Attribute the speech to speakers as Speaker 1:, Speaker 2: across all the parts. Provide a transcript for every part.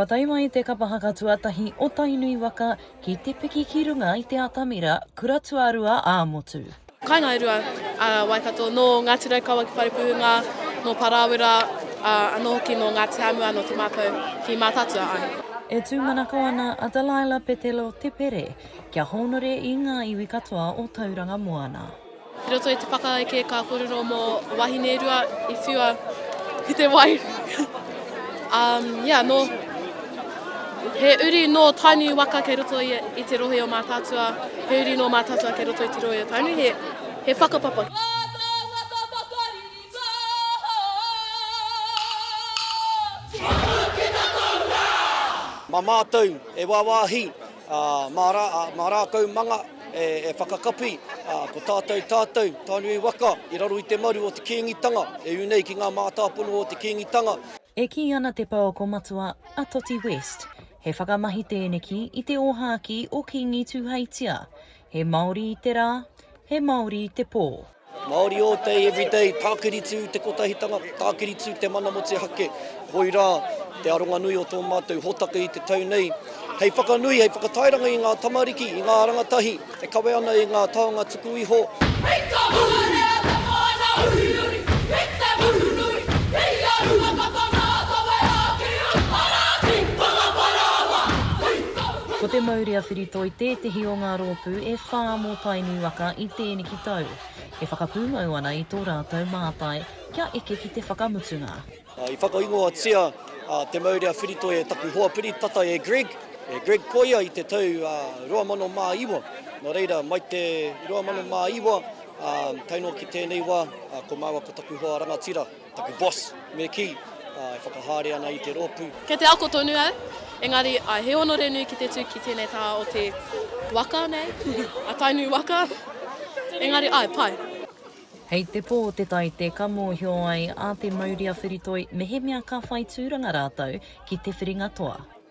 Speaker 1: Kua tae mai te kapa haka tuatahi o Tainui waka ki te piki ki runga i te atamira kura tuarua ā motu. Kainga e rua
Speaker 2: a Waikato, nō Ngāti Raukawa ki Wharepuhunga, nō Parāwera, ā, anō hoki nō Ngāti Hāmua, nō Te Mātau ki Mātaatua, āe. E tūmanako
Speaker 1: ana a Delilah Petelo Te Pere Kia hōnore i ngā iwi katoa o Tauranga Moana. I roto i te
Speaker 2: whakaeke ka kōrero mō wahine rua i whiua ki te wai. um, yeah, no, he uri nō Tainui waka kei roto i, i te rohe o Mātātua, he uri nō Mātātua kei roto i te rohe o Tainui, he, he whakapapa.
Speaker 3: Mā mātou e wāwāhi. Ā, mā rā, ā, mā rākau manga e, e whakakapi, ā, ko tātou, tātou, Tainui waka, i raro i te maru o te Kīngitanga, e ū nei ki ngā mātāpono o te Kīngitanga. E kī ana
Speaker 1: te pouako matua, a Toti West, he whakamahi tēneki i te ōhākī o Kīngi Tūheitia, He Māori i te rā, he Māori i te pō. Māori all day,
Speaker 3: every day, tākiritu te kotahitanga, tākiritu te mana motuhake, koirā te aronga nui o tō mātou hōtaka i te tau nei, hei whakanui, hei whakatairanga i ngā tamariki, i ngā rangatahi e kawe ana i ngā taonga tuku iho. Hei ka huruhea te whānau uriuri ki te muru nui, ki ia runga tata rātau e āki, Hara atu! Whakaparāoa! Hei ka. Ko te mauri a Whiritoi tētehi o ngā rōpū e whā mō Tainui waka i tēneki tau, e whakapūmau ana i tō rātou mātai kia eke ki te whakamutunga. I whakaingoatia te mauri a Whiritoi e taku hoa piri tata e Greg, e Greg Koia i te tau 2009. Nō reira, mai te 2009 tae noa ki tēnei wā, ko māua ko taku hoa rangatira. Taku boss, me kī, e whakahaere ana i te rōpū. Kei te ako tonu au,
Speaker 2: engari I he onore nui ki te tū ki tēnei taha o te waka nei, a Tainui waka, engari āe, pai. Hei te
Speaker 1: pō te taite ka mōhio ai a te mauria whiritoi mehemea ka whai tūranga rātou ki te whiringa toa.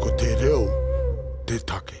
Speaker 1: Ko te reo te take.